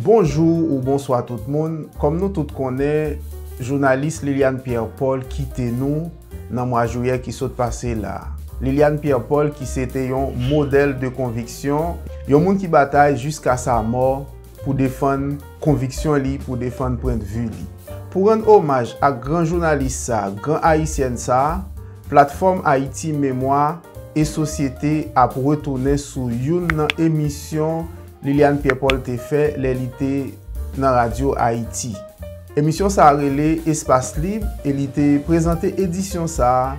Bonjou ou bonswa tout moun, kòm nou tout konnen jounalis Liliane Pierre Paul kite nou nan mwa jouyè ki sot pase la. Liliane Pierre Paul ki se te yon modèl de konviksyon, yon moun ki batay jiska sa mò pou defann konviksyon li, pou defann pwendvi li. Pou rann omaj ak gran jounalis sa, gran ayisyèn sa, Platfòm Ayiti Memwa e Sosyete ap retounen sou youn nan emisyon Liliane Pierre Paul te fè lè li te nan radyo Ayiti. Emisyon sa rele Espas Lib e li te prezante edisyon sa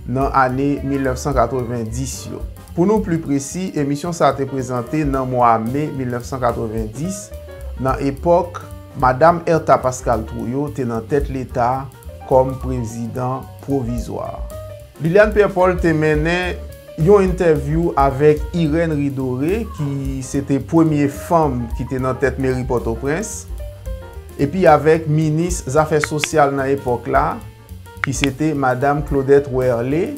nan ane 1990 yo. Pou nou pli presi, emisyon sa te prezante nan mwa me 1990, nan epòk Madam Ertha Pascal Trouillot te nan tèt leta kòm prezidan pwovizwa. Liliane Pierre Paul te mennen yon entèvyou avèk Irène Ridore ki se te premye fanm ki te nan tèt meri Pòtoprens epi avèk minis zafè sosyal nan epòk la ki se te madam Claudette Werlé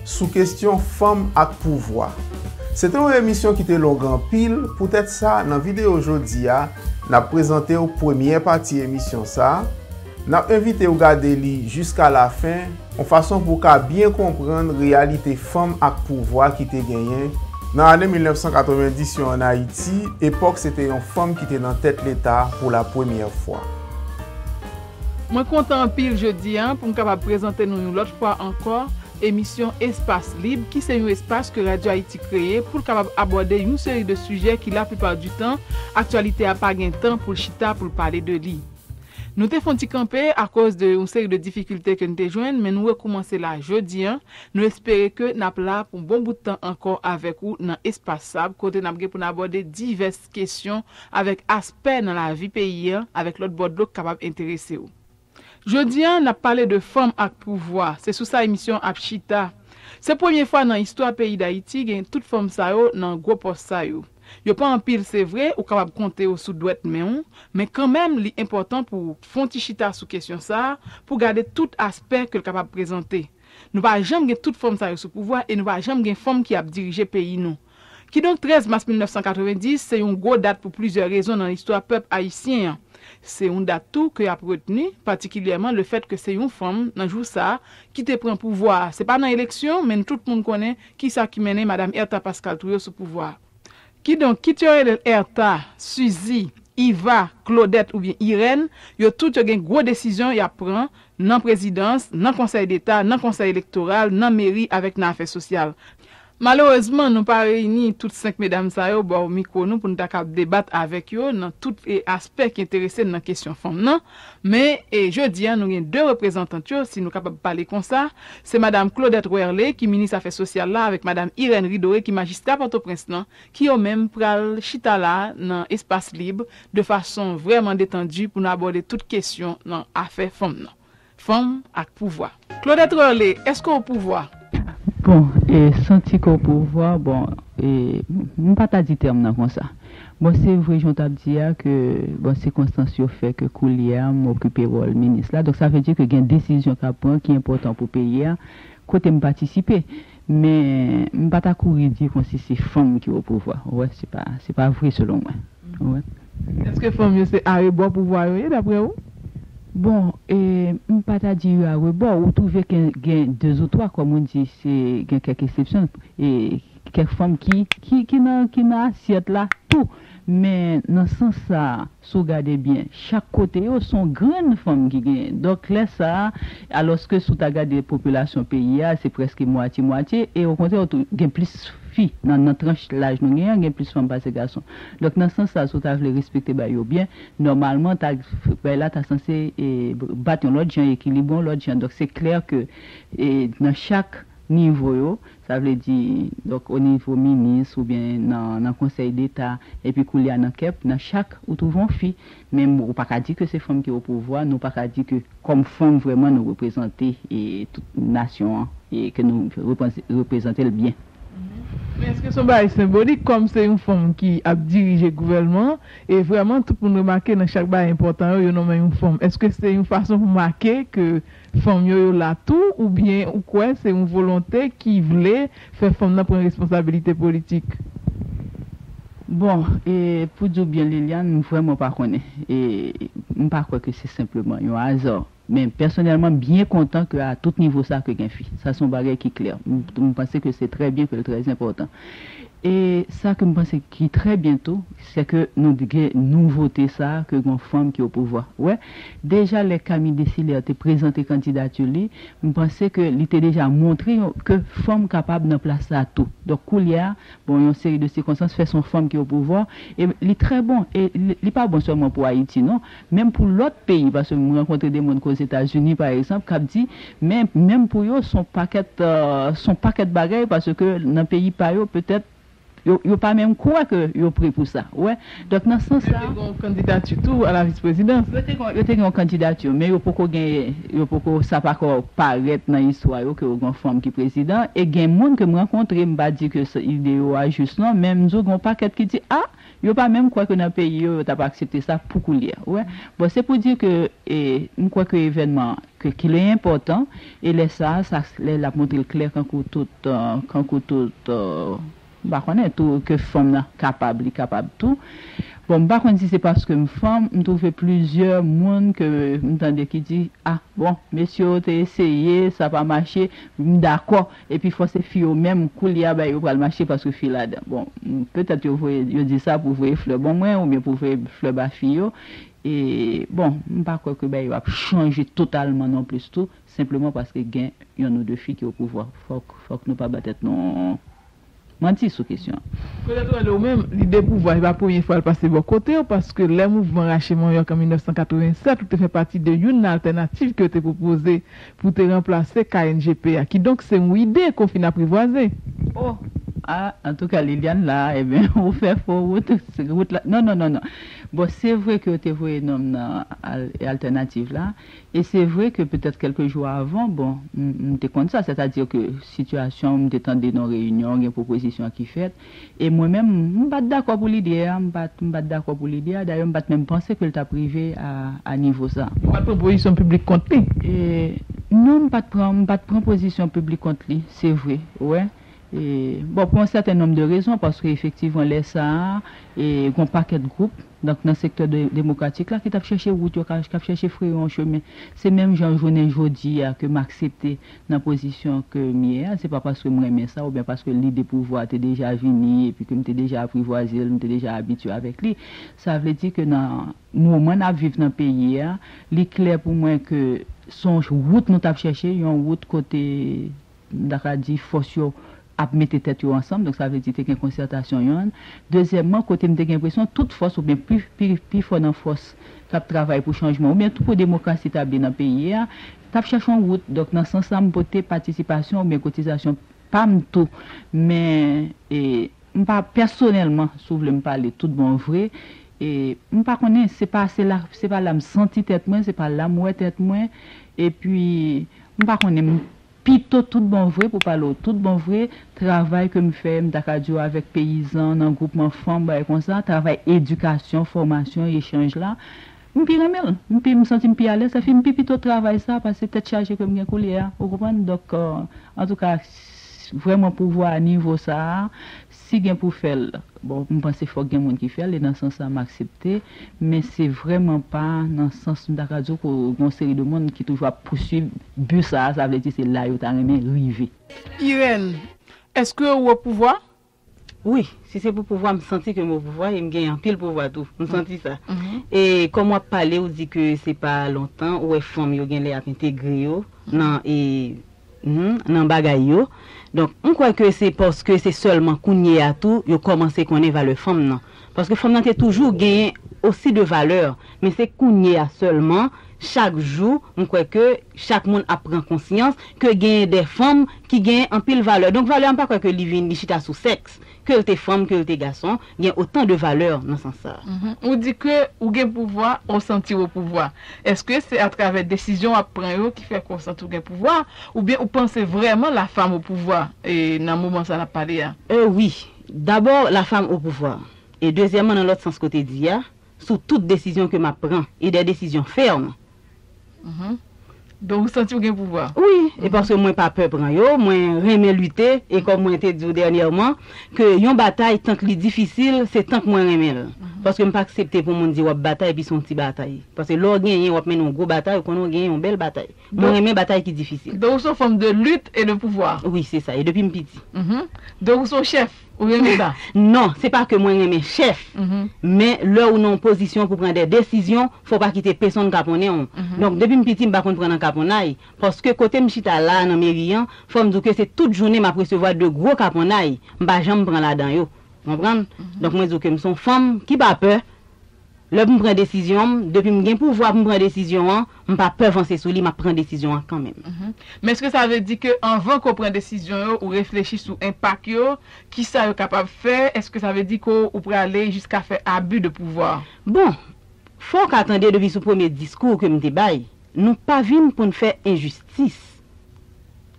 sou kestyon fanm ak pouvwa. Se te yon emisyon ki te long anpil poutèt sa nan videyo jodi a n ap prezante w premyè pati emisyon sa N ap envite w gade li jiska lafen, yon fason pou w ka byen konprann reyalite fanm ak pouvwa ki te genyen nan ane 1990 yo ann Ayiti, epòk se te yon fanm ki te nan tèt Leta pou lapremyè fwa. Mwen kontan anpil jodi a pou m kapab prezante nou yon lòt fwa ankò emisyon Espas Lib ki se yon espas ke Radio Haïti kreye pou l kapab abòde yon seri de sijè ki laplipa di tan aktyalite a pa gen tan pou l chita pou l pale de li. Nou te fon ti kanpe akoz de yon seri de difikilte ke n te jwenn men nou rekoumanse la jodi an. Nou espere ke n ap la pou bon bout tan ankò avèk ou nan Espas Sab kote n ap gen pou n abòde divès kesyon avèk aspè nan lavi peyi an avèk lòt bò dlo k kapab enterese w. Jodi an n ap pale de fanm ak pouvwa, se sou sa emisyon an ap chita. Se premye fwa nan istwa peyi Dayiti gen tout fanm sa yo nan gwo pòs sa yo. Yo pa anpil se vre, ou kapab konte yo sou dwèt men w, men kanmenm li enpòtan pou w fè yon ti chita sou kesyon sa pou w gade tout aspè ke l kapab prezante. Nou pa janm gen tout fanm sa yo sou pouvwa e nou pa janm gen fanm ki ap dirije peyi nou. Kidonk 13 mas 1990 se yon gwo dat pou plizyè rezon nan istwa pèp ayisyen an. Se yon dat tou ke y ap retni, patikilyèman lefèt ke se yon fanm nan jou sa ki te pran pouvwa a. Se pa nan eleksyon, men tout moun konnen Ki sa ki mennen Madam Ertha Pascal Trouillot sou pouvwa a? Kidonk, kit yo rele l Ertha, Suzi, Iva, Klodèt oubyen Irèn, yo tout yo gen gwo desizyon y ap pran, nan prezidans, nan konsèy deta, nan konsèy elektoral, nan meri avèk nan afè sosyal. Malerezman, nou pa reyini tout senk medam sa yo bò mikwo nou pou n ta kab debat avèk yo nan tout aspè ki enterese n nan kesyon fanm nan. Men, jodi a, nou gen 2 reprezantant yo, si nou kapab pale konsa, se Madam Claudette Werlé, ki Minis Afè Sosyal la, avèk Madam Irène Ridoré, ki Majistra Pòtoprens lan, ki yo menm pral chita la a nan espas lib, de fason vrèman detandi pou nou abòde tout kesyon nan afè fanm nan. Fanm ak pouvwa. Claudette Reullé, Èske w opouvwa? Bon, e santi ke w opouvwa, bon, e m pa ta di tèm nan konsa. Bon, se vre jan w t ap di a ke, bon, sikonstans yo fè ke koulye a m okipe wòl minis la, donk sa vle di ke gen desizyon k ap pran ki enpòtan pou peyi a kote m patisipe. Men m pa ta kouri di konsi se fanm ki o pouvwa ou wè se pa se pa vre selon mwen ou wè. Eske fanm yo se arebò pouvwa yo ye daprè ou? Bon e m pa ta di yo arebò ou twouve ke gen dezoutwa kòm ou di se gen kèk esepsyon e kèk fanm ki ki nan ki nan asyèt la tou men nan sans sa a Si w gade byen, chak kote yo, s on grenn fanm ki genyen. Donk, lè sa a, alòske si w ta gade popilasyon peyi a, se prèske mwatye mwatye, e okontrè w tou gen plis fi nan nan tranch laj nou genyen an, gen plis fanm pase gason. Donk, nan sans sa a, si w ta vle respekte bay yo byen, nòmalman, ta bay la ta sanse bat yon lòt jan, ekilibre yon lòt jan. Donk, se klè ke nan chak nivo yo, Sa vle di, donk o nivo minis ou byen nan nan konsèy deta epi koulye a nan kep, nan chak ou twouve yon fi. Men ou pa ka di ke se fanm ki o pouvwa, nou pa ka di ke kòm fanm vrèman nou reprezante e tout nasyon an e ke nou repanze reprezante l byen. Men èske se yon bagay senbolik kòm se yon fanm ki ap dirije gouvèlman an e vrèman tout moun remake nan chak bagay enpòtan yo, yo nonmen yon fanm. Èske se yon fason pou make ke Fanm yo yo la tou ou byen ou kwè se yon volonte ki vle fè fanm nan pran responsabilite politik? Bon e pou diw byen Liliane m vrèman pa konnen e m pa kwè ke se senpleman yon aza men pèsonèlman m byen kontan ke a tout nivo sa ke gen fi sa son bagay ki klè m panse ke se trè byen ke l trè enpòtan e sa ke m panse ki trè byen tou Sè ke nou t gen nouvote sa ke gon fanm ki o pouvwa. Wè, deja lè Camille Décilaire te prezante kandidatur li, m panse ke li te deja montre yon ke fanm kapab nan plas sa tou. Donk koulyè a, bon yon seri de sikonstans fè son fanm ki o pouvwa e li trè bon e li pa bon sèlman pou Ayiti non, menm pou lòt peyi paske m rankontre de moun ke o Zetazini pa egzanp kap di men menm pou yo son pakèt son pakèt bagay paske nan peyi pa yo petèt Yo pa menm kwè ke yo pre pou sa. Ou wè? Donk nan sans sa. Yo te gen yon kandidati tou a la vis prezidans. Yo te gen yon kandidati men yo poko gen, yo poko, sa pako parèt nan istwa yo ke yo gen yon fanm ki prezidan. E gen moun ke m rankontre, m pa di ke ide yo a jis non, men m di w gen yon pakèt ki di, a! Yo pa menm kwè ke nan peyi yo, yo tap aksepte sa pou koulye. Ou wè? Bon, se pou di ke, e, m kwè ke evènman an, ke ke li enpòtan, e lè sa a, sa, lè l ap montre l klè kankou tout, kankou tout, m pa konnen, tou, ke fanm nan kapab, li kapab tou. Bon, m pa konn si se paske m fanm, m twouve plizyè moun ke m tande ki di, a, bon, mesye yo te eseye, sa pa mache, m dakò. Epi fò se fi yo menm koulye a bay yo pral mache paske fi ladan. Bon, petèt yo voye, yo di sa pou voye flè bon mwen oubyen pou voye flè ba fi yo. E, bon, m pa kwè ke bagay yo ap chanje totalman non plis tou, senpleman paske gen yonn ou de fi ki o pouvwa. Fòk, fòk nou pa ba tèt nou. Manti sou kesyon an. Kote tou ale ou menm, lide pouvwa se pa premye fwa l pase bò kote w paske lè mouvman rache manyòk an 1987 ou te fè pati de youn nan altènativ ke yo te pwopoze pou te ranplase KNGP a kidonk se yon ide ke w fin aprivwaze. O! A! Antouka Liliane la a enben ou fè fo wout wout la non non non non bon se vre ke yo te voye nonm nan al altènativ la. E se vre ke petèt kèlke jou avan, bon, m te konn sa, sètadi ke sitiyasyon, m te tande nan reyinyon, gen pwopozisyon ki fèt, e mwen menm, m pa t dakò pou lide a, m pa t, m pa t dakò pou lide a, dayè m pa t menm panse ke l t ap rive a, a nivo sa. Ou pa t pran pozisyon piblik kont li? E, non, m pa t pran, m pa t pran pozisyon piblik kont li, se vre, ou wè. E, bon, pou yon sèten nonm de rezon, paske efektivman lè sa a, e, gen yon pakèt gwoup, Donk nan sektè demokratik la ki t ap chèche wout yo, k ap chèche freye yon chemen, se menm jan jounen jodi a ke m aksepte nan pozisyon ke m ye a, se pa paske m renmen sa oubyen paske lide pouvwa a te deja vini epi ke m te deja aprivwaze l, m te deja abitye avèk li. Sa vle di ke nan moman n ap viv nan peyi a, li klè pou mwen ke s on wout nou t ap chèche, yon wout kote m ta ka di fòs yo ap mete tèt yo ansanm, donk sa vle di te gen konsètasyon yon. Dezyèmman, kote m te gen enpresyon tout fòs oubyen pi fò nan fòs k ap travay pou chanjman oubyen tou pou demokrasi tabli nan peyi a, t ap chèche yon wout. Donk nan sans sa m pote patisipasyon oubyen kotizasyon pa m tou. Men, m pa pèsonèlman, si w vle m pale tout bon vre, m pa konnen, se pa se la, se pa la m santi tèt mwen, se pa la m wè tèt mwen, epi m pa konnen, Pito tout bon vre pou pale w tout bon vre, travay ke m fè, m ta ka di w avèk peyizan, nan gwoupman fanm, bagay konsa, travay edikasyon, fòmasyon, echanj la, m pi renmen l. M pi, m santi m pi alèz, sa fi m pi pito travay sa pase tèt chaje ke m gen koulye a. Ou konprann? Donk, antouka, vrèman pouvwa a nivo sa a, Si gen pou fè l, bon m panse fòk gen moun ki fè l e nan sans sa m aksepte, men se vrèman pa nan sans m ta ka di w ke gen yon seri de moun ki toujou ap pouswiv but sa a, sa vle di se la yo ta renmen rive. Irène, Èske ou o pouvwa? Wi, si se pou pouvwa m santi ke m o pouvwa e m gen anpil pouvwa tou, m santi sa. E kòm w ap pale ou di ke se pa lontan ou wè fanm yo genlè ap entegre yo nan e. nan bagay yo. Donk, m kwè ke se paske se sèlman kounye a tou yo kòmanse konnen valè fanm nan. Paske fanm nan te toujou genyen osi de valè. Men se kounye a sèlman, chak jou, m kwè ke chak moun ap pran konsyans ke genyen de fanm ki genyen anpil valè. Donk, valè a m pa kwè ke li vin, li chita sou sèks. ke l te fanm ke l te gason, gen otan de valè nan sans sa a. Ou di ke ou gen pouvwa, ou santi w opouvwa. Eske se atravè desizyon w ap pran yo ki fè ke w santi w gen pouvwa, oubyen ou panse vrèman la fam opouvwa nan moman sa n ap pale a? Wi, dabò la fam opouvwa, e dezyèman nan lòt sans ke w te di a, sou tout desizyon ke map pran e des décisions fermes. Donk ou santi ou gen pouvwa? Wi, e paske mwen pa pè pran yo, mwen renmen lite e kòm mwen te diw dènyèman ke yon batay tank li difisil se tank mwen renmenl. Paske mpa aksepte pou moun di wap batay epi son ti batay. Paske lè w genyen wap mennen yon gwo batay ou konnen w genyen yon bèl batay. Mwen renmen batay ki difisil. Donk ou son fanm de lutte et de pouvoir? Wi se sa e depim piti. Donk ou son chèf? Ou renmen sa? Non, se pa ke mwen renmen chèf, men lè ou nan yon pozisyon pou pran dè desizyon, fò w pa kite pesonn kaponnen w. Donk depi m piti m pa konn pran nan kaponnay, paske kote m chita la a nan meri an, fò m di w ke se tout jounen m ap resevwa de gwo kaponnay, m pa janm pran ladan yo. Konprann? Donk mwen di w ke m son fanm ki pa pè. Lè pou m pran desizyon m, depi m gen pouvwa pou m pran desizyon an, m pa pè vanse sou li, m ap pran desizyon an kanmenm. Men èske sa vle di ke anvan ke w pran desizyon yo, ou reflechi sou enpak yo, kisa yo kapab fè, èske sa vle di ke w prale jiska fè abi de pouvwa? Bon, fò w ka tande depi sou premye diskou ke m te bay, nou pa vin pou n fè enjistis,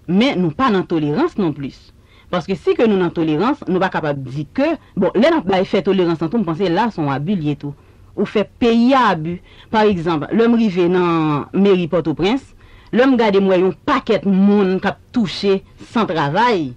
men nou pa nan tolerans non plis. Paske si ke nou nan tolerans, nou pa kapab di ke, bon, lè nap bay fè tolerans lan tou m panse la son abi l ye tou. Ou fè peyi a abi. Pa egzanp, lè m rive nan meri Pòtoprens, lè m gade m wè yon pakèt moun kap touche san travay,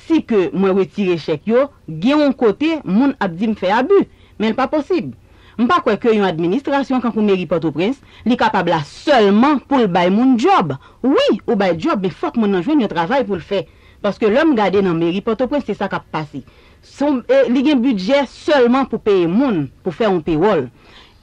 si ke mwen retire chèk yo, gen yon kote moun ap di m fè abi. Men l pa posib. M pa kwè ke yon administrasyon kankou meri Pòtoprens, li kapab la sèlman pou l bay moun djòb. Wi, ou bay djòb men fòk moun nan jwenn yon travay pou l fè. Paske lè m gade nan meri Pòtoprens se sa k ap pase. Se yon e li gen bidjè sèlman pou peye moun, pou fè yon pewòl.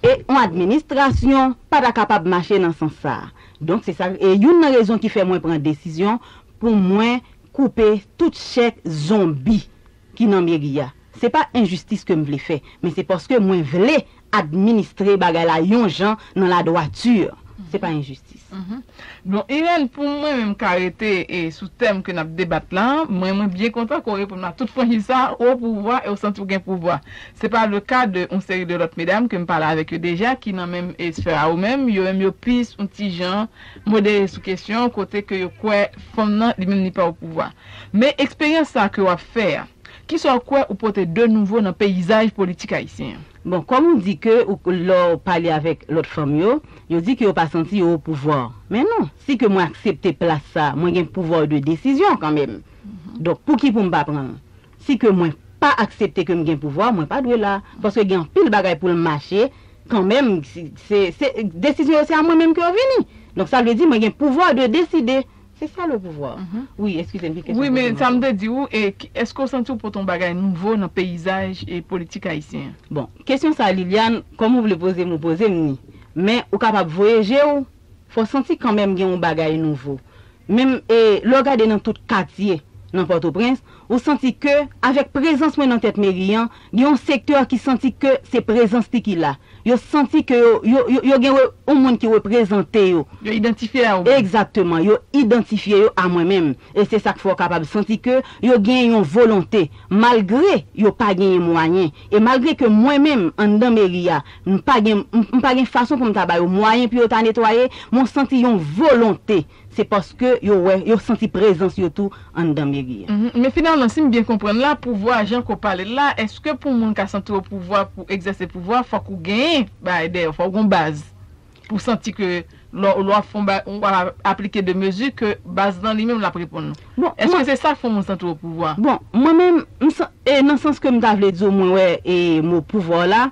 E yon administrasyon pa ta kapab mache nan sans sa a. Donk se sa e youn nan rezon ki fè mwen pran desizyon pou mwen koupe tout chèk zonbi. ki nan meri a. Se pa enjistis ke m vle fè, men se paske mwen vle administre bagay la yon jan nan la droiture. Se pa enjistis. Bon, Irène, pou mwen menm ka rete sou tèm ke n ap debat la, mwen mwen byen kontan ke w reponn m a tout franchiz sa a, ou opouvwa e w santi w gen pouvwa. Se pa le ka de yon seri de lòt medam ke m pale avèk yo deja ki nan menm sphère a ou menm, yo menm yo plis yon ti jan, Modere sou kesyon kote ke yo kwè fanm nan li menm li pa opouvwa. Men eksperyans sa ke wap fè a, kisa ou kwè ou pote de nouvo nan peyizaj politik ayisyen an? Bon, kòm ou di ke ou lè w pale avèk lòt fanm yo, yo di ke yo pa santi yo opouvwa. Men non, si ke mwen aksepte plas sa, mwen gen pouvoir de décision kanmenm. Donk pouki pou m pa pran l? Si ke mwen pa aksepte ke m gen pouvwa, mwen pa dwe la. Paske gen anpil bagay pou l mache kanmenm. Se desizyon yo se a mwen menm ke yo vini. Donk sa vle di mwen gen pouvwa de deside. Se sa le pouvwa. Wi, eskize m ki kesyon poze m ankò. Wi, men sa m te di ou, eske w santi w pote yon bagay nouvo nan peyizaj politik ayisyen an? Bon, kesyon sa Liliane, kòm ou vle poze m ou poze m ni. Men ou kapab voye je ou Fè w santi kanmenm gen yon bagay nouvo. Menm e lè w gade nan tout katye nan Pòtoprens, ou santi ke avèk prezans mwen nan tèt meri an, gen yon sektè ki santi ke se prezans li ki la. Yo santi ke yo, yo, yo gen yon moun ki reprezante yo. Yo idantifye a ou menm. Egzakteman. Yo idantifye yo a mwen menm. E se sa k fè w kapab santi ke yo gen yon volonte, malgre yo pa genyen mwayen, E malgre ke mwen menm, anndan meri a, m pa gen, m pa gen fason pou m ta ba yo mwayen pou yo ta netwaye, men w santi yon volonte, se paske yo wè, yo santi prezans yo tou anndan meri a. Men finalman, si m byen konprann la, pouvwa jan ke w pale l la, èske pou moun ka santi w opouvwa, pou egzèse pouvwa, fòk ou genyen bagay dèyè w, fòk ou gen yon baz? Pou santi ke lè w ap fè yon bagay, ou ap aplike de mezi ke baz lan li menm l ap reponn ou. Eske se sa k fè yon moun santi yo pouvwa? Bon, mwen menm, nan sans ke m ta vle di w mwen wè mo pouvwa w la,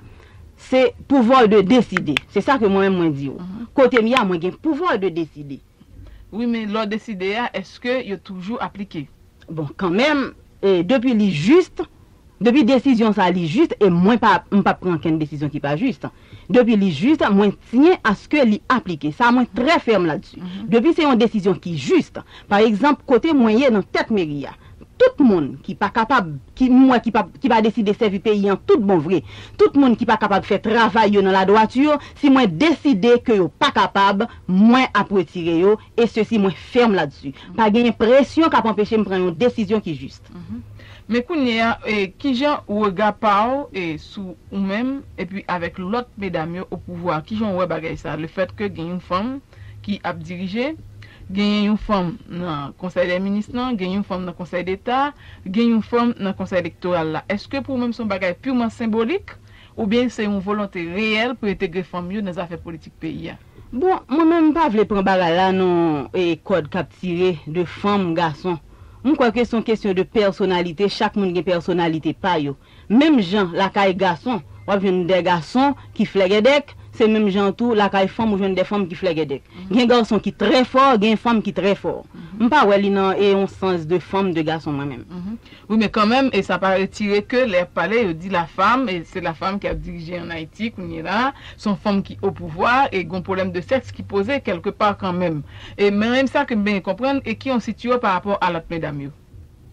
se pouvwa w de deside. Se sa ke mwen menm mwen di w. Kote m ye a, mwen gen pouvwa de deside. Wi men lè w deside a, eske yo toujou aplike? Bon kanmenm depi li juste, depi desizyon sa li juste e mwen pa m pap pran ankenn desizyon ki pa juste. Depi li juste mwen tyen aske li aplike. Sa mwen trè fèm ladsu. Depi se yon desizyon ki juste. Pa egzanp kote mwen ye nan tèt meri a. Tout moun ki pa kapab, ki m wè ki pa deside sèvi peyi an tout bon vre. Tout moun ki pa kapab fè travay yo nan ladwati yo, si mwen deside ke yo pa kapab, mwen ap retire yo e sesi mwen fèm ladsu. Pa genyen presyon kap anpeche m pran yon desizyon ki jist. Men kounye a kijan rega pa w sou ou menm epi avèk lòt medam yo o pouvwa kijan w wè bagay sa le fèt ke gen yon fanm ki ap dirije genyen yon fanm nan konsèy dè minis lan gen yon fanm nan konsèy deta gen yon fanm nan konsèy elektoral la eske pou ou menm se yon bagay pirman senbolik oubyen se yon volonte reyèl pou entegre fanm yo nan zafè politik peyi a. Bon mwen menm m pa vle pran bagay la nan kòd kap tire de fanm gason m kwè ke son kesyon de pèsonalite chak moun gen pèsonalite pa yo menm jan lakay gason wap jwenn dè gason ki flègèdèk se menm jan tou lakay fanm ou jwenn dè fanm ki flègèdèk gen gason ki trè fò gen fanm ki trè fò m pa wè li nan e yon sans de fanm de gason mwen menm. Wi men kanmenm e sa pa retire ke lè yap pale yo di la femme e se la femme ki ap dirije an Ayiti kounye la a, son fanm ki o pouvwa e gon pwoblèm de sèks ki poze kèlke pa kanmenm. E men menm sa ke m benyen konprann e ki yon sitio pa rapò a lòt medam yo.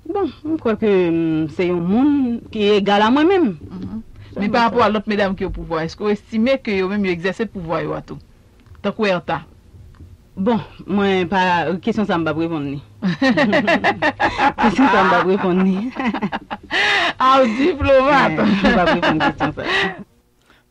Bon, m kwè ke m se yon moun ki egal a mwen menm. Men pa rapò a lòt medam ki o pouvwa, eske w estime ke yo menm yo egzèse pouvwa yo a tou? Tankou Ertha. Bon, mwen pa, kesyon sa m pap reponn li. Kesyon sa m pap reponn li. Ah w diplomat! M pap reponn kesyon sa a.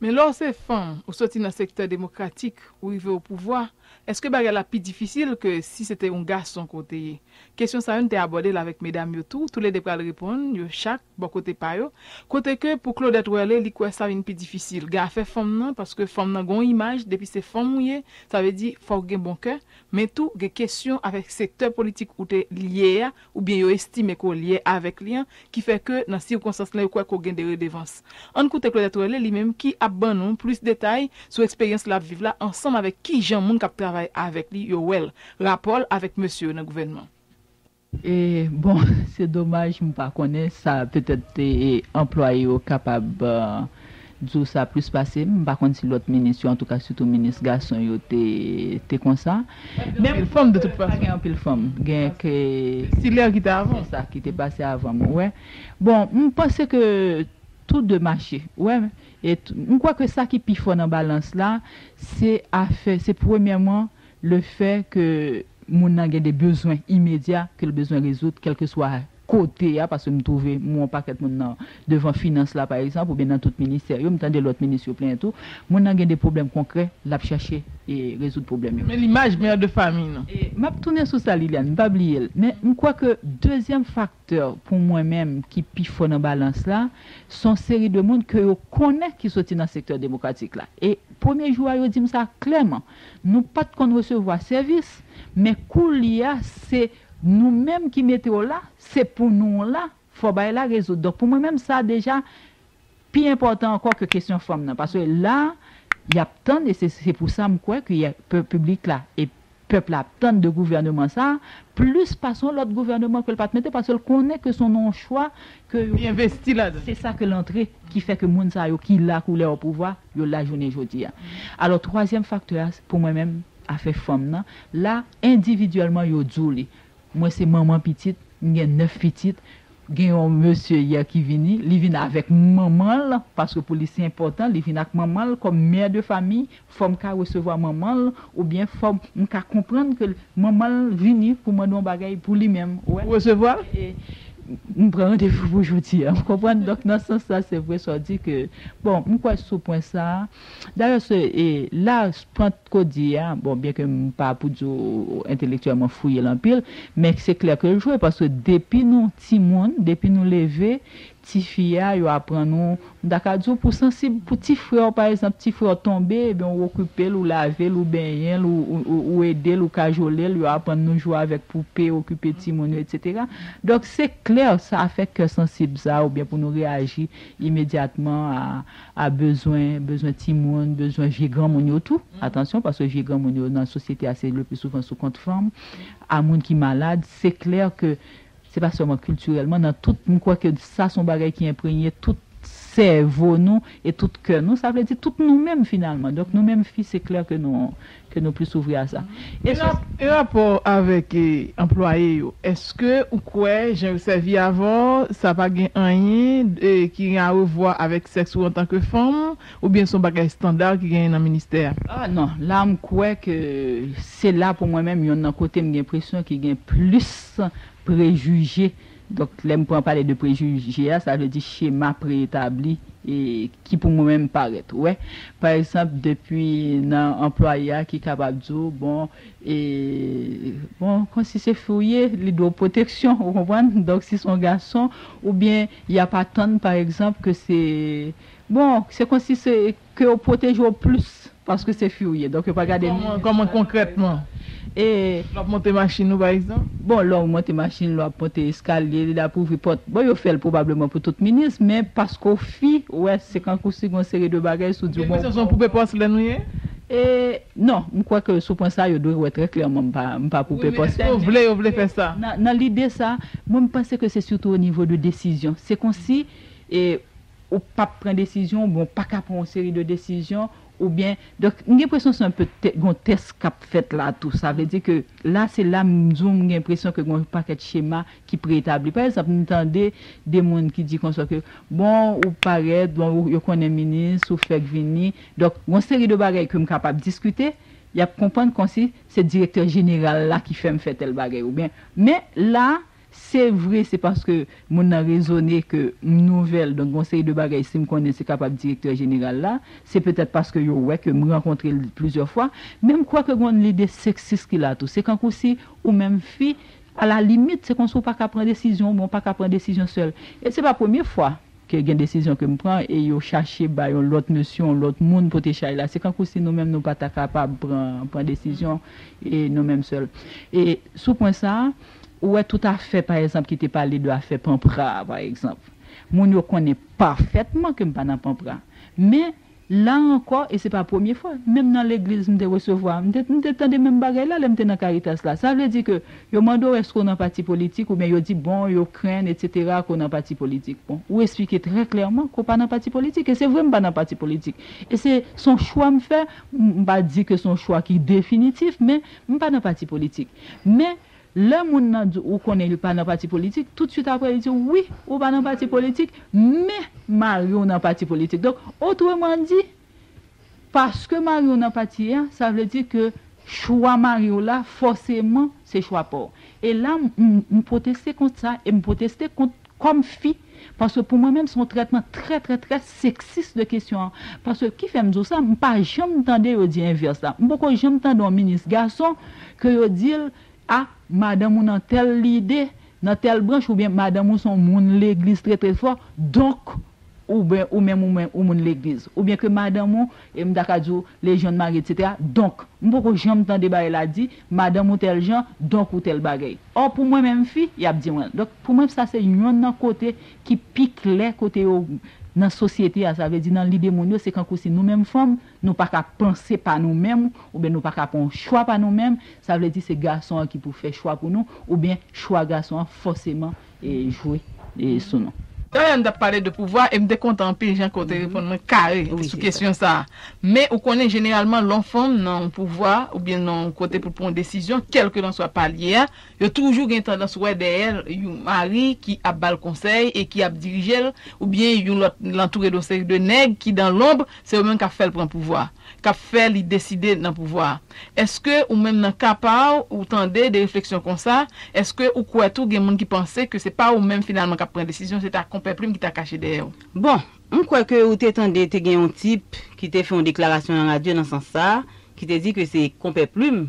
Men lè w se fanm, ou soti nan sektè demokratik, ou rive o pouvwa, èske bagay la pi difisil ke si se te yon gason ke w te ye? Kesyon sa yo n te abòde l avèk medam yo tou, toulede pral reponn yo chak. Bò kote pa yo, kote ke pou Claudette Werlé li kwè sa vin pi difisil gen afè fanm nan paske fanm nan gen yon imaj depi se fanm ou ye sa vle di fòk gen bon kè men tou gen kesyon avèk sektè politik ou te lye a oubyen yo estime ke w lye avèk li an ki fè ke nan sikonstans lan yo kwè ke w gen de redevans. Ann koute Claudette Werlé li menm ki ap ban nou plis detay sou eksperyans l ap viv la ansanm avèk kijan moun k ap travay avèk li yo wè l, rapò l avèk mesye yo nan gouvènman. Bon, se domaj m pa konnen sa, petèt anplwaye yo kapab di w sa plis pase m. M pa konn si lòt minis yo, antouka sitou minis gason yo te konsa. Gen anpil fanm de tout fason. Pa gen anpil fanm. Gen ke. Stilè ki te avan w. Se sa, ki te pase avan m, ou wè. Bon, m panse ke tou de mache, ou wè. E m kwè ke sa ki pi fò nan balans la, se afè, se premyèman Le fè ke moun nan gen de bezwen imedya ke l bezwen rezoud kèlkeswa kote a, paske m twouve m wè yon pakèt moun nan devan finans la pa egzanp oubyen nan tout ministè yo, m tande lòt minis yo plenyen tou, moun nan gen de pwoblèm konkrè l ap chache rezoud pwoblèm yo. Men limaj mère de famille nou. E m ap tounen sou sa Liliane, m pa bliye l, men m kwè ke dezyèm fak. Tè, pou mwen menm, ki pi fò nan balans la, s on seri de moun ke yo konnen ki soti nan sektè demokratik la. E, premye jou a, yo di m sa klèman. Nou pa t konn resevwa sèvis, men koulye a, se nou menm ki mete w la, se pou nou w la, fò bagay la rezoud. Donk, pou mwen menm, sa deja pi enpòtan ankò ke kesyon fanm nan paske la yap tann e se pou sa m kwè ke piblik la e pèp la ap tann de gouvèneman sa plis pase yon lòt gouvèneman ke l pat mete paske l konnen ke son nan yon chwa ke yo se sa ke l antre ki fè ke moun sa yo ki la kou lè opouvwa yo la jounen jodi a alò twazyèm faktè a pou mwen menm afè fanm nan la endividyèlman yo di w li Mwen se manman pitit, m gen 9 pitit, gen yon mesye yè ki vini, li vin avèk manman l, paske pou li se enpòtan, li vin ak manman l kòm mère de famille, fò m ka resevwa manman l, oubyen fò m ka konprann ke manman l vini pou mande yon bagay pou li menm, ou resevwa l, e m pran randevou pou jodi a, ou konprann, donk nan sans sa se vre sa w di ke, bon, m kwè sou pwen sa a, dayè se, e la, pant. Ko di a, bon byen ke m pa pou di w entelektyèlman fouye l anpil, men se klè ke l jwe paske depi nou timoun, depi nou leve, ti fi a yo aprann nou, m ta ka di w pou sansib, pou ti frè w pa ekzanp, ti frè w tonbe ebyen ou okipe l, ou lave l, ou benyen l, ou ede l, ou kajole l, yo aprann nou jwe avèk poupe, okipe timoun yo etsetera. Donk se klè sa fè kè sansib sa oubyen pou nou reyaji imedyatman a a bezwen, bezwen timoun, bezwen vye granmoun yo tou, atansyon, paske vye granmoun yo nan sosyete a se le pli souvan sou kont fanm, a moun ki malad, se klè ke se pa sèlman kiltirèlman, nan tout, m kwè ke sa son bagay ki enpregne tout sèvo nou e tout kè nou, sa vle di tout nou menm finalman, donk nou menm fi se klè ke nou. ke nou plis ouvri a sa. E sou. Nan rapò avèk anplwaye yo, èske ou kwè jan yo sèvi avè w sa pa gen anyen ki gen arevwa avèk sèks ou antanke fanm oubyen se yon bagay estanda ki genyen nan ministè a? Ah non, la m kwè ke se la pou mwen menm yonn nan kote m gen enpresyon ki gen plis prejije Donk, lè m pran pale de prejije a, sa vle di chema pre-etabli ki pou mwen menm parèt. Ou wè? Pa egzanp, depi nan anplwaye a ki kapab di w, bon, e, bon, kon si se fi w ye, li dwe w pwoteksyon, ou konprann? Donk, si se yon gason, oubyen y ap atann, pa egzanp, ke se, bon, se kon si se. Ke yo pwoteje w plis paske se fi ou ye donk yo pa gade ni. Kòman konkrètman? E lè w ap monte machin ou pa egzanp? Bon lè w monte machin, lè w ap monte eskalye, lè w ap ouvri pòt, bon yo fè l pwobableman pou tout minis men paske w fi ou wè se kankou si gon seri de bagay si w di w bon. Ou gen enpresyon se yon poupe pòslèn ou ye? E non, m kwè ke sou pwen sa yo dwe wè trè klèman m pa m pa poupe pòslèn. Wi men èske yo vle yo vle fè sa? Nan lide sa, mwen m panse ke se sitou onivo de desizyon se konsi e. ou pap pran desizyon oubyen ou paka pran yon seri de desizyon oubyen donk m gen enpresyon se anpe gen yon tès k ap fèt la tou sa vle di ke la se la m di w m gen enpresyon ke gen yon pakèt chema ki pre-etabli pa egzanp m tande de moun ki di konsa ke bon ou parèt bon yo konnen minis ou fèk vini donk yon seri de bagay ke m kapab diskite y ap konprann kòmsi se direktè jeneral la ki fè m fè tèl bagay oubyen men la Se vre se paske moun nan rezone ke m nouvèl donk gon seri de bagay si m konnen se kapab direktè jeneral la, se petèt paske yo wè ke m rankontre l plizyè fwa, men m kwè ke gon lide seksis ki la tou. Se kankou si ou menm fi, a la limit se konsi ou pa ka pran desizyon ou byen ou pa ka pran desizyon sèl. E se pa premye fwa. Ke gen desizyon ke m pran e yo chache bay yon lòt mesye, yon lòt moun pote chay la. Se kankou si nou menm nou pa ta kapab pran, pran desizyon e nou menm sèl. E sou pwen sa a, ou wè tout afè pa ekzanp ki te pale de afè Panpra a pa ekzanp. Moun yo konnen pafètman ke m pa nan Panpra. Men, La ankò, e se pa premye fwa, menm nan legliz m te resevwa, m te m te tande menm bagay la lè m te nan Karitas la. Sa vle di ke yo mande w èske w nan pati politik oubyen yo di bon yo krenn etsetera ke w nan pati politik. Bon, ou esplike trè klèman ke w pa nan pati politik, e se vre m pa nan pati politik. E se se yon chwa m fè, m pa di ke se yon chwa ki definitif men m pa nan pati politik. Men, Lè moun nan di w ou konnen li pa nan pati politik, tout swit aprè li di w wi, ou pa nan pati politik, men mari w nan pati politik. Donk, otreman di, paske mari w nan pati a, sa vle di ke chwa mari w la fòseman se chwa pa w. E la, m pwoteste kont sa e m pwoteste kont kòm fi paske pou mwen menm se yon trètman trè trè trè seksis de kesyon an paske ki fèm di w sa m pa janm tande yo di envès la m poko janm tande yon minis gason ke yo di l a madanm ou nan tèl lide nan tèl branch oubyen madanm ou se yon moun legliz trè trè fò donk Oubyen ou menm ou menm ou moun legliz. Oubyen ke madanm ou, e m ta ka di w, lejyon mari etc. Donk, m poko janm tande bagay la di, madanm ou tèl jan, donk ou tèl bagay. Ò pou mwen menm fi, y ap di mwen. Donk, pou mwen sa se yonn nan kote ki pi klè kote yo nan sosyete a. Sa vle di nan lide moun yo se kankou si nou menm fanm, nou pa ka panse pa nou menm, oubyen nou pa ka pran yon chwa pa nou menm, sa vle di se gason an ki pou fè chwa pou nou, oubyen chwa gason an fòseman jwe sou nou. Dayè nou t ap pale de pouvwa e m te kontan anpil jan ke w te reponn mwen kare sou kesyon sa a. Men ou konnen jeneralman lè yon fanm nan yon pouvwa oubyen nan yon kote pou l pran yon desizyon kèlkelanswa pa l ye a, yo toujou gen tandans wè dèyè l yon mari ki ap ba l konsèy e ki ap dirije l oubyen yon lòt l antoure de yon seri de nèg ki dan lonb se yo menm k ap fè l pran pouvwa. kap fè li deside nan pouvwa a. Eske ou menm nan ka pa w ou tande de refleksyon konsa, eske ou kwè tou gen moun ki panse ke se pa ou menm finalman kap pran desizyon se ta Konpè Plim ki ta kache dèyè w? Bon, m kwè ke ou te tande te gen yon tip ki te fè yon deklarasyon nan radyo nan sans sa a, ki te di ke se Konpè Plim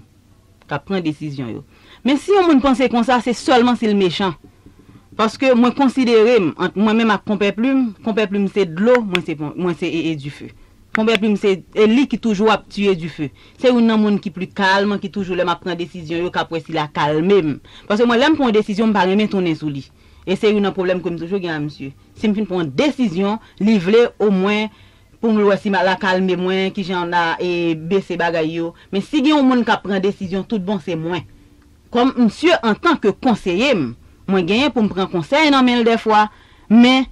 k ap pran desizyon yo. Men si yon moun panse konsa, se sèlman si l mechan. Paske mwen konsidere m, ant mwen menm ak Konpè Plim, Konpè Plim se dlo, mwen se mwen se ee dife. Konpè Plim se e li ki toujou ap tiye dife. Se youn nan moun ki pli kalm, ki toujou lè m ap pran desizyon yo, k ap wè si l a kalme m. Paske mwen lè m pran yon desizyon, m pa renmen tounen sou li. E se youn nan pwoblèm ke m toujou gen a misye. Si m fin pran yon desizyon, li vle omwen Pou m l wè si m al akalme mwen, ki jan n a e bese bagay yo. Men si gen yon moun k ap pran desizyon tout bon se mwen. Kòm msye antan ke konseye m, mwen genyen pou m pran konsèy nan men l dèfwa, men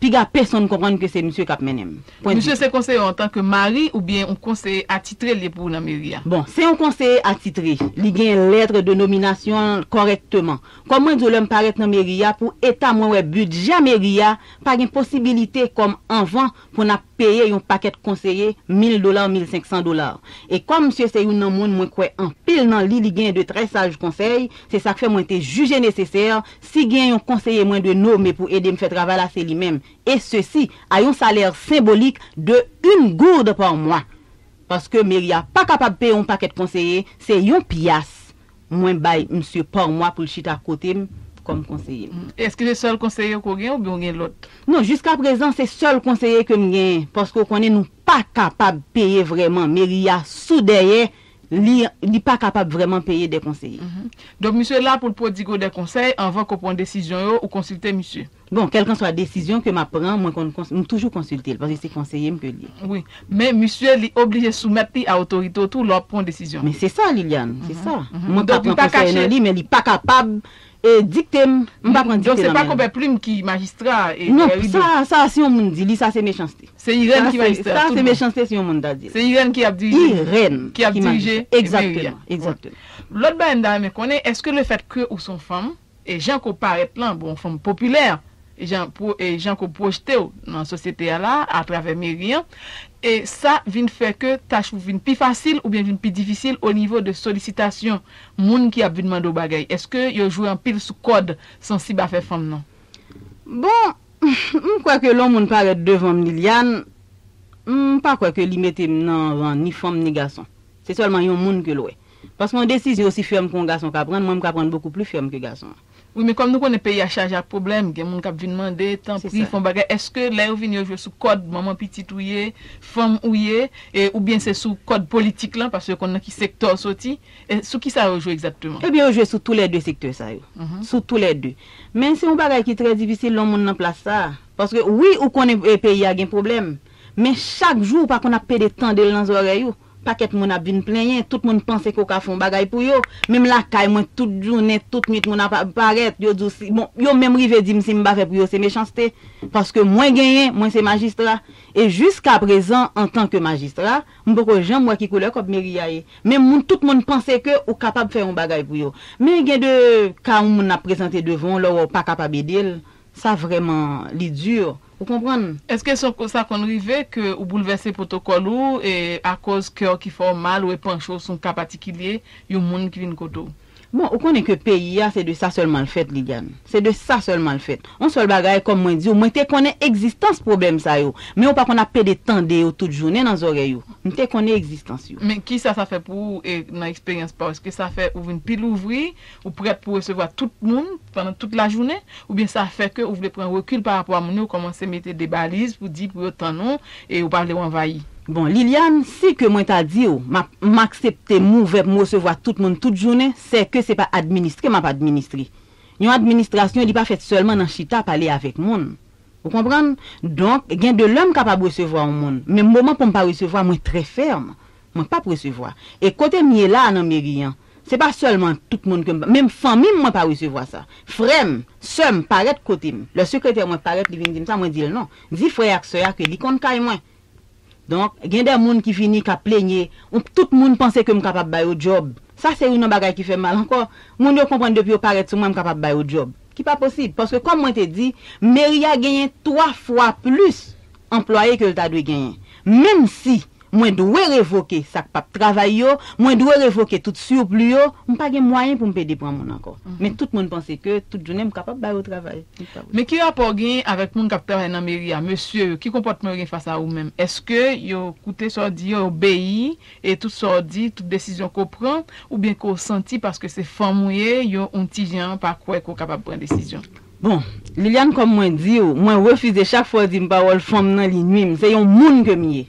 piga pesonn konprann ke se msye k ap mennen m. Pwen Misye se konseye w antan ke mari oubyen yon konseye atitre l ye pou ou nan meri a? Bon, se yon konseye atitre. Li gen lètre de nominasyon l kòrèkteman. Kòm mwen di w lè m parèt nan meri a, pou eta mwen wè bidjè meri a, Pa gen posibilite kòm anvan pou n ap peye yon pakèt konseye mil dola, mil senk san dola. E kòm msye se youn nan moun mwen kwè anpil nan li, li gen de trè saj konsèy, se sa k fè mwen te jije nesesè, si gen yon konseye mwen dwe nome pou ede m fè travay la se li menm, et ceci a yon salè senbolik de yn gourde par mois. Paske meri a pa kapab peye yon pakèt konseye, se yon pyas. Mwen bay misye par mwa pou l chita kote m kòm konseye m. Eske se sèl konseye ke w gen oubyen ou gen lòt? Non, jiskaprezan se sèl konseye ke m gen paske ou konnen nou pa kapab peye vrèman. Meri a sou dèyè li, li pa kapab vrèman peye de konseye. Donk misye la pou l pwodigue w de konsèy anvan ke w pran desizyon yo, ou konsilte misye? Bon, kèlkanswa desizyon ke m ap pran, mwen konn kons, m toujou konsilte l, paske se konseye m ke l ye. Wi. Men, misye, li oblije soumèt li a otorite w tou lè w ap pran yon desizyon. Men se sa, Liliane, se sa. Mwen ka pran konsèy nan li, men li pa kapab dikte m. M pa pran dikte nan men l. Donk se pa Kobè Plim ki majistra a, e Rido. Non, sa, sa si yon moun di li, sa se mechanste. Se Irèn ki majistra a, tout bon. Sa se mechanste si yon moun ta di l. Se Irèn ki ap dirije. Irèn ki majistra. Ki ap dirije meri a. Egzakteman, egzakteman. Lòt bagay m ta renmen konnen, èske lefèt ke ou se yon fanm, E jan ke w parèt lan bon fanm popilè, e jan e jan ke w pwojte w nan sosyete a la a travè meri an, e sa vin fè ke tach ou vin pi fasil oubyen vin pi difisil o nivo de solisitasyon moun ki ap vin mande w bagay. Eske yo jwe anpil sou kòd sansib afè fanm nan? Bon, m kwè ke lè yon moun parèt devan m Liliane, m pa kwè ke li mete m nan ran ni fanm ni gason. Se sèlman yon moun ke l wè. Paske yon desizyon osi fèm ke yon gason ka prann, mwen m ka prann bokou pli fèm ke gason. Wi men kòm nou konnen peyi a chaje ak pwoblèm, gen moun kap vin mande, tanpri fon bagay, eske lè yo vini yo jwe sou kòd manman pitit ou ye, fanm ou ye, e oubyen se sou kòd politik lan, paske yo konn nan ki sektè w soti, e sou kisa yo jwe egzatteman? Ebyen yo jwe sou tou lè 2 sektè sa yo, sou tou lè 2. Men se yon bagay ki trè difisil lè yon moun nan plas sa a, paske wi ou konnen peyi a gen pwoblèm, men chak jou ou pa konn ap pede tande l nan zòrèy ou, Pakèt moun ap vin plenyen, tout moun panse ke w ka fè yon bagay pou yo. Menm lakay mwen, tout jounen, tout nwit moun ap parèt, yo di w si, bon, yo menm rive di m si m pa fè pou yo se mechanste, paske mwen genyen, mwen se majistra. E jiskaprezan, antan ke majistra, m poko janm wè ki koulè kòb meri a ye. Men moun, tout moun panse ke ou kapab fè yon bagay pou yo. Men gen de ka yon moun ap prezante devan w, lè w wè w pa kapab ede l, Sa vreman li dur ou konprann. Eske sa konn rive ke ou boulvèse pwotokòl ou e akoz kè w ki fè w mal ou e panche w sou yon ka patikilye yon moun ki vin kote w? Bon ou konnen ke peyi a se de sa sèlman l fèt Liliane. Se de sa sèlman l fèt. On sèl bagay kòm mwen di w mwen te konnen egzistans pwoblèm sa yo men ou pa konn ap pede tande yo tout jounen nan zòrèy ou. M te konnen egzistans yo. Men kisa sa fè pou ou e nan eksperyans pa w eske sa fè ou vin pi louvri Ou prèt pou resevwa tout moun pandan tout lajounen, oubyen sa fè ke ou vle pran rekil pa rapò a moun yo, kòmanse mete de baliz pou di pou yo tann ou e ou pa vle ou anvayi? Bon, Liliane, si ke mwen ta di ou m'ap, m aksepte m ouvè pou m resevwa tout moun tout jounen, sè ke se pa administre m'ap administre. Yon administrasyon li pa fèt sèlman nan chita pale avèk moun. Ou konprann? Donk, gen de lè m kapab resevwa yon moun, men moman pou m pa resevwa mwen trè fèm. Mwen p'ap resevwa. E kote m ye la a nan meri an, Se pa sèlman tout moun ke m pa. Menm fanmi m mwen pa resevwa sa. Frè m, sè m parèt kote m. Lè sekretè mwen parèt li vin di m sa, mwen di l non. Di frè ak sè a ke li konn kay mwen. Donk, gen de moun ki vini k ap plenye, ounp tout moun panse ke m kapab ba yo djòb. Sa se youn nan bagay ki fè m mal ankò. Moun yo konprann depi yo parèt sou mwen, m kapab ba yo djòb. Ki pa posib. Paske kòm mwen te di, meri a genyen twa fwa plis. anplwaye ke l ta dwe genyen. Menm si mwen dwe revoke sa k pap travay yo, mwen dwe revoke tout surplus yo, m pa gen mwayen pou m pede pran moun ankò. Men tout moun panse ke tout jounen m kapab ba yo travay. Men ki rapò w genyen avèk moun k ap travay nan meri a? Mesye yo, ki konpòtman yo gen fas a ou menm? Èske yo koute sa w di yo, yo obeyi e tout sa w di, tout desizyon ke w pran? Oubyen ke w santi paske se fanm ou ye, yo yon ti jan pa kwè ke w kapab pran desizyon? Bon Liliane kòm mwen diw mwen refize chak fwa ou dim pawòl fanm nan li nwim se yon moun kem ye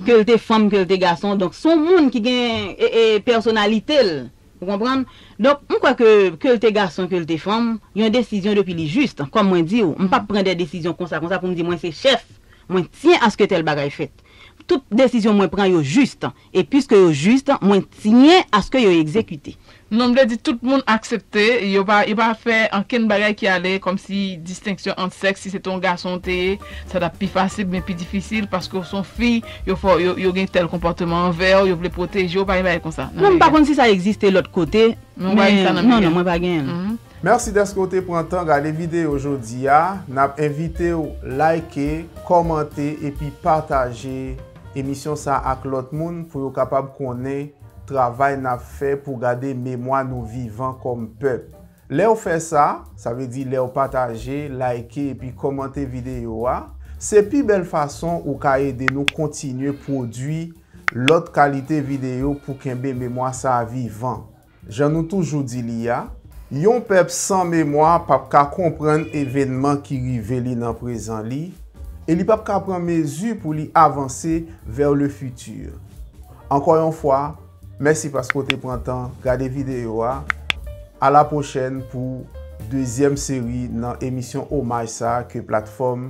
kel te fanm kel te gason donk son moun ki gen pèsonalitel ou konprann donk m kwè ke kel te gason kel te fanm yon desizyon depi li jis kòm mwen diw m pap pran de desizyon konsa konsa poum di mwen se chèf mwen tiyen aske tèl bagay fèt tout desizyon mwen pran yo jis E piske yo jist, mwen tiyen aske yo egzekite. Non vle di tout moun aksepte, yo pa yo pa fè ankenn bagay ki ale kòmsi distenksyon ant sèks, si se te yon gason ou te ye, sa t ap pi fasil byen pi difisil, paske ou se yon fi, yo fè w, yo gen tèl konpòteman anvè w, yo vle pwoteje w, pa gen bagay konsa nan Merian. Non m pa konn si sa egziste lòt kote, men ou pa jwenn sa nan Merian. Non, non, mwen pa genyen l. Mèsi dèske w te pran tan gade videyo jodi a, n ap envite w like, kòmante epi pataje. Emisyon sa ak lòt moun pou yo kapab konnen travay n ap fè pou gade memwa nou vivan kòm pèp. Lè w fè sa, sa vle di lè w pataje, layke epi kòmante videyo a, se pi bèl fason ou ka ede nou kontinye pwodui lòt kalite videyo pou kenbe memwa sa vivan. Jan nou toujou di li a, yon pèp san memwa p ap ka konprann evènman ki rive li nan prezan li e li p ap ka pran mezi pou li avanse vers le futur. Ankò yon fwa, mèsi paske w te pran tan gade videyo a. A la pwochèn pou dezyèm seri nan emisyon omaj sa ke platfòm